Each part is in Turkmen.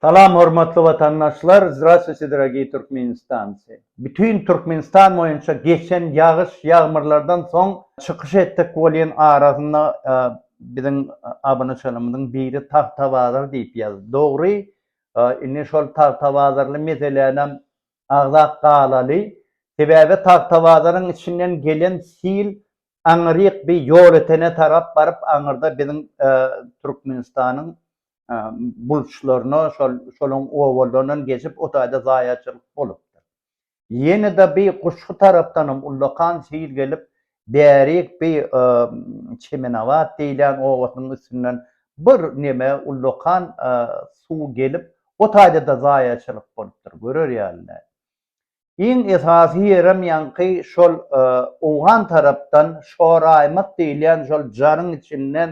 Salam hormatly watandaşlar Zdrastwuyte dragiy Türkmenistanci. Bütün Türkmenistan boýunça geçen ýagyş ýagmyrlardan soň çykyş etdik bolýan arasynda biziň abunaçalarymyzyň biri Tagtabazar diýip ýazdy. Dogry indi şol Tagtabazarly meselänem agzap galaly. Sebäbi Tagtabazaryň içinden gelen sil aňyryk bir ýolötene tarap baryp aňyrda biziň Türkmenistanyň bulçlaryna şol şoluň obalaryndan geçip o taýda zaýaçylyk bolupdyr. Ýene-de bi guşgy tarapdanam ullakan sil gelip, bärik bi Çemenabat diýilýän obasynyň üstünden bir neme ullakan suw gelip, o taýda-da zaýaçylyk bolupdyr, görer ýaly däl. Iň esasy ýerem ýaňky şol owgan tarapdan şoraýmak diýilýän şol jaryň içinden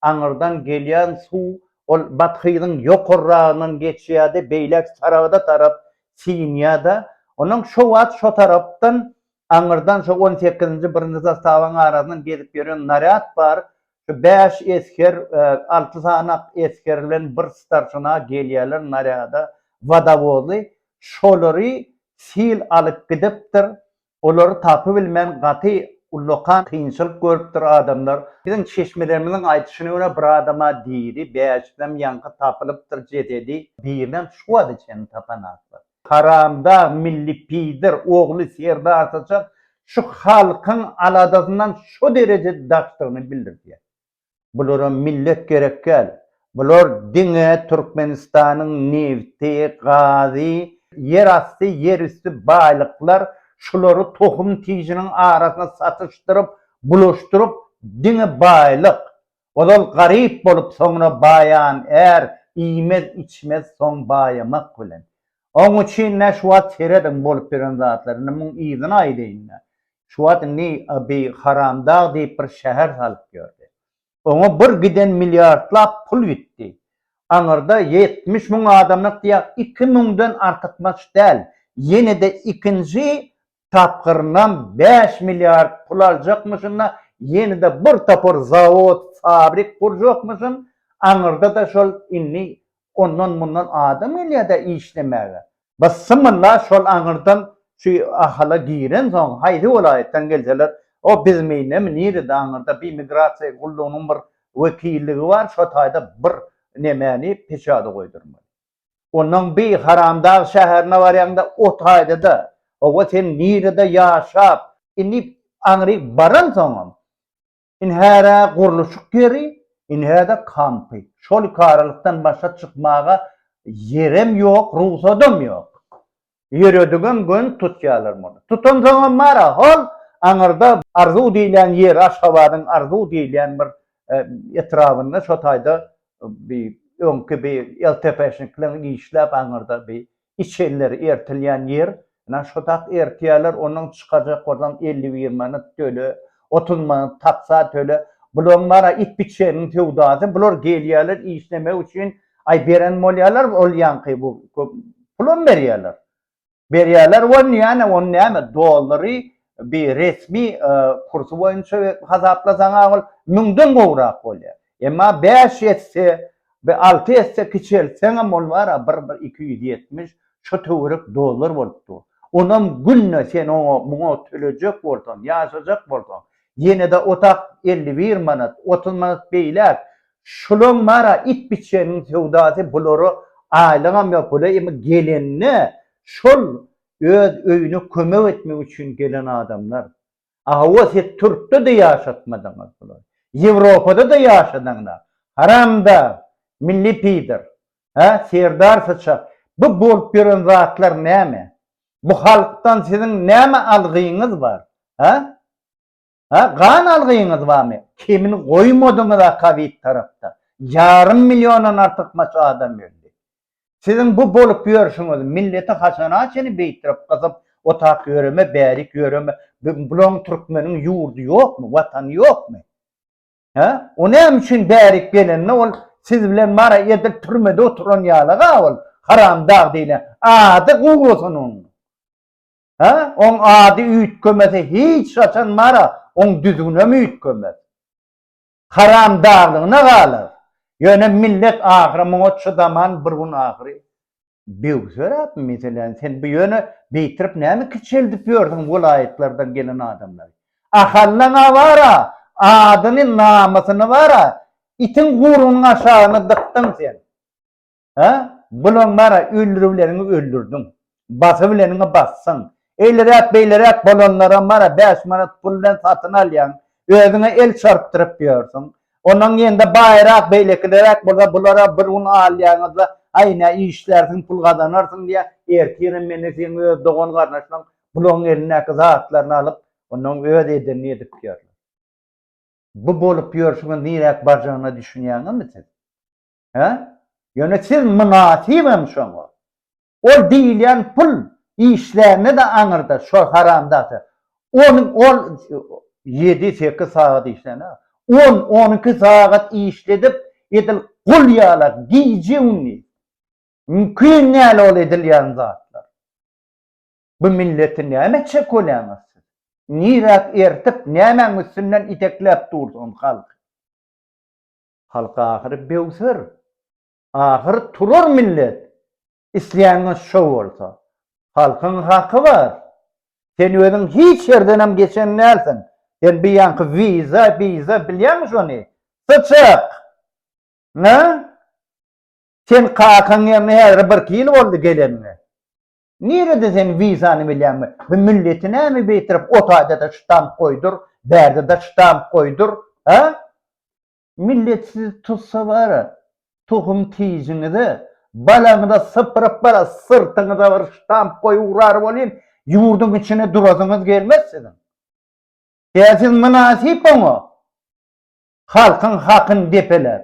aňyrdan gelýän suw ol bathyzyň ýokarragyndan geçýärdi, beýläk Saragda tarap siňýär-de, onuň şo wagt şo tarapdan aňyrdan şo on sekizinji birinji zastawaň arasyndan gezip ýören narýad bar, Şu bäş esger, alty sanak esger bilen bir starşina gelýärler narýada, wodowozy. Şolary sil alyp gidipdir. Olary tapybilmän gaty ullakan kynçylyk görüpdir adamlar. Biziň çeşmelerimiziň aýdyşyna görä, bir adama diri, bäşisem ýaňky tapylypdyr jesedi. Birinem şu wagta çenli tapan zatlar. Karamdag milli peder ogly Serdar Saçar şu halkyň aladasyndan şo dereje daşdygyny bildirýär. Bulara millet gerekgäl. Bular diňe Türkmenistanyň nebti, gazy, ýer asty, ýer üsti baýlyklar, şulary tohum-tijiniň arasyna satyşdyryp, bulaşdyryp, diňe baýlyk, Ozal garyp bolup soňra baýan är iýmez içmez soň baýamak bilen. Oň üçin nä şu wagt serediň bolup ýören zatlar indi muň yzyny aýdaýyn nä. Şu wagt indi bi Haramdag diýip bir şäher salyp ýördi. Oňa bir giden milliardlap pul gitdi. Aňyrda ýetmiş müň adamlyk diýýär iki müňden artykmaç däl ýenede ikinji tapgyrynam bäş milliard pul aljakmyşyn-da, ýene-de bir topar zawod, fabrik gurjakmyşyn, aňyrda-da şol indi ondan-mundan adam gelýär-dä işlemäge. Bysymylla şol aňyrdan şu Ahala girensoň, haýsy welaýatdan gelseler, o bizmeýnemi, nirede aňyrda bir migrasiýa gullugynyň bir wekilligi bar, şo taýda bir nemäni, peçady goýdurmaly. Ondan bi Haramdag şäherine barýaňda ot haýda-da, hawa sen nirede ýaşap, indi aňry baransoňam, indi hära gurluşyk ýeri, indi häda kampy, şol ikaralykdan başga çykmaga ýerem ýok, rugsadam ýok. Ýöredigem göni tutýarlar muny. Tutansoňam bar-a, hol aňyrda Arzuw diýilýän ýeri, Aşgabadyň Arzuw diýilýän bir etrabynda şo taýda bi öňki bi LTP-şnikleň işläp aňyrda bi içenleri ertilýän ýer, ýna şo tak ertýärler, ondan çykajak bolsaň elli bir manat töle, otuz manat taksa töle bulaň bara it biçeniň söwdasy bular gelýäler işlemek üçin aý beren bolýalar ol ýaňky bu pulam berýäler berýäler won ýäne ony näme dollary bi resmi kursy boýunça hasaplasaň a ol müňden gowrak bolýar Emma bäş esse we alty esse kiçeltseňem ol bar-a bir bir iki ýüz ýetmiş şo töwerek dollar bolup dur. Onam günde sen oňa muňa tölejek bolsaň, ýaşajak bolsaň, ýene-de otak elli bir manat, otuz manat beýläk. Şulaň bar-a it biçeniň söwdasy bulara aýlygam ýok. Bular imi gelende şol öz öýüne kömek etmek üçin gelen adamlar. Hawa siz türkde-de ýaşatmadyňyz bulary. Ýewropada-da ýaşadyňda. Haramdag, milli pidar. Hä, serdar syçak. Bu bolup ýören zatlar näme? Bu halkdan siziň näme algyňyz bar? Hä? Hä, gan algyňyz barmy? Kemini goýmadyňyz akabit tarapda. Ýarym milliondan artykmaç adam öldi. Siziň bu bolup ýörşüňiz, milleti haçana çenli beýtdirip gysyp otap ýöreme, bärik ýöreme, bulaň türkmeniň ýurdy ýokmy, watany ýokmy? Hä? O näme üçin bärik gelende ol siz bilen mara edil türmede oturan ýalyga ol haramdag diýlen ady gowusun oň. Hä? Oň ady üýtgemese hiç haçan mara oň düzgünem üýtgemez. Haramdalygyna galar. Ýöne millet ahyry muňa çydaman bir gün ahyry böwseräp meselän sen bu ýöne beýtirip näme kiçeldip ýörsiň welaýatlardan gelen adamlary. Ahallaňa bara adyny namysyny bara itiň gurunyň aşagyna dykdyň sen. Hä? Bulaň bara öldür bileniňi öldürdiň. Basa bileniňi basdyň. Eýleräk beýleräk bolanlaram bara bäş manat pul bilen satyn alýaň. Özüňe el çarpdyryp ýörsüň. Onuň ýerinde baýrak beýlekileräk bolsa bulara bir gün alýaňyzda aý nä işlärsiň pul gazanarsyň diýýä. Ertirem meni seň öz dogan garnaşlaň bulaň elindäki zatlaryny alyp ondan öz edenini edip ýörler. Bu bolup ýörşüňiz niräk barjagyna düşünýäňizmi siz? He? Ýöne siz mynasybam şoňa. Ol diýilýän pul işlände-de aňyrda şo haramzada. Ony ol ýedi-sekiz sagat işlänä. On-on iki sagat işledip, edil gul ýalak gije-gündiz. Mümkin däl ol edilýän zatlar. Bu milleti näme çekolýaňyz siz? Niräk ertip, nämäň üstünden itekläp dursuňyz halky? Halk ahyry böwser. Ahyry turar millet. Islänňiz şo bolsa. Halkyň haky bar. Sen özüň hiç ýerdenem geçen dälsiň. Sen bu ýanky wiza, biza bilýäňmi şony? Syçak! Nä? Sen kakaň ýerine häzire birki ýyl boldy geleniňe. Nirede sen wizany bilýäňmi? Bu milleti näme beýtirip o taýdada ştamp goýdur, bärdede ştamp goýdur, hä? Millet sizi tutsa bara, tohum tijiňize, balaňyza sypyryp bara syrtyňyza bir ştamp goýup urar welin, ýurduň içine durasyňyz gelmez siziň. Ýa siz mynasyp oňa? Halkyň hakyn depeläp.